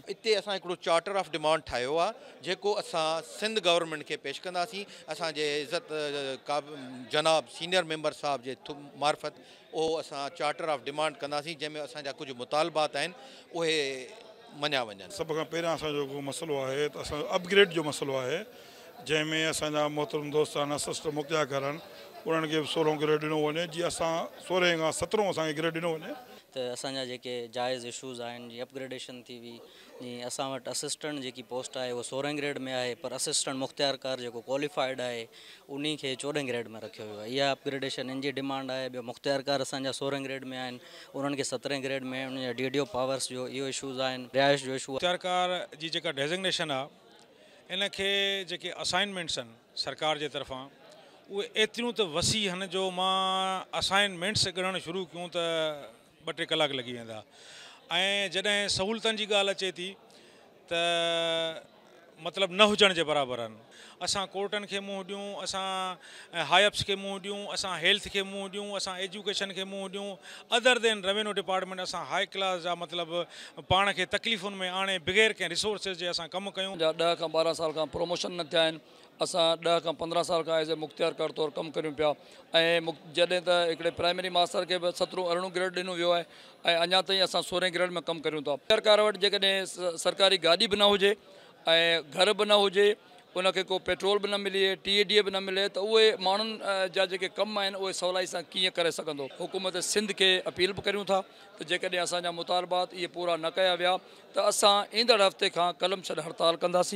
اتي اسان هڪڙو چارٽر آف ڊمانڊ ٺاهيو آهي جيڪو اسان سنڌ گورنمينٽ کي پيش ڪنداسين اسان جي عزت جناب سينئر ميمبر صاحب جي معرفت اهو اسان چارٽر آف ڊمانڊ ڪنداسين جنهن ۾ اسان جا ڪجهه مطالبات آهن اهي مڃيا وڃن. سڀ کان پهريان اسان جو جيڪو مسئلو آهي ته اسان جو اپ گريڊ جو مسئلو آهي جنهن ۾ اسان جا محترم دوست انا سسٽر مکيا گهر آهن انهن کي به سورهون گريڊ ڏنو وڃي جي اسان سورهين کان سترهون اسان کي گريڊ ڏنو وڃي. ته اسان جا جيڪي جائز اشوز آهن جي اپگريڊيشن ٿي وئي جي اسان وٽ اسسٽنٽ جيڪي پوسٽ آهي اهو سورهن گريڊ ۾ آهي پر اسسٽنٽ مختيار ڪار جيڪو ڪواليفائيڊ آهي انهي کي چوڏهن گريڊ ۾ رکيو ويو آهي اها اپگريڊيشن ان جي ڊمانڊ آهي ٻيو مختيار ڪار اسان جا سورهن گريڊ ۾ آهن انهن کي سترهن گريڊ ۾ انهن جا ڊي ڊي او پاورس جو اهو اشوز آهن رهائش جو اشو آهي. مختيار ڪار جي جيڪا ڊيزگنيشن آهي ان کي جيڪي اسائنمينٽس آهن سرڪار جي طرفان اهي ايتريون ته وسيع هن جو مان اسائن مينٽس ڳڻڻ شروع ڪيون ته ٻه ٽي ڪلاڪ لڳي ويندا ۽ جڏهن سهولتن جي ڳالهه اچي ٿي ته مطلب نه هجڻ جي برابر آهن اسان ڪورٽن کي منهن ڏيون اسان هاء اپس کي منهن ڏيون اسان هيلٿ کي منهن ڏيون اسان ايجوڪيشن کي منهن ڏيون ادر دين روينو ڊپارٽمينٽ اسان هاء ڪلاس جا مطلب پاڻ کي تڪليفن ۾ آڻي بغير ڪنهن ريسورسز جي اسان ڪم ڪيون. جا ڏهه کان ٻارهن سال کان پروموشن نه ٿيا آهن اسان ڏهه کان پندرهن سال کان ايز اي مختيار ڪار طور ڪم ڪريون پيا ۽ جڏهن ته هڪڙي پرائمري ماستر کي به سترهون ارڙهون گريڊ ڏنو ويو آهي ۽ اڃا تائين اسان سورهين گريڊ ۾ ڪم ڪريون ٿا. مختيار ڪار وٽ جيڪڏهن سرڪاري گاڏي به نه هجي ۽ گهر به نه هجي ان کي ڪو پيٽرول به نه ملي ٽي اي ڊي به نه ملي ته اهي ماڻهن جا جيڪي ڪم آهن اهي سولائي سان ڪيئن ڪري سگهندو حڪومت سنڌ کي اپيل به ڪريون ٿا ته جيڪڏهن اسان جا مطالبات اهي پورا نه ڪيا ويا ته اسان ايندڙ هفتي کان قلم ڇڏ هڙتال ڪنداسين.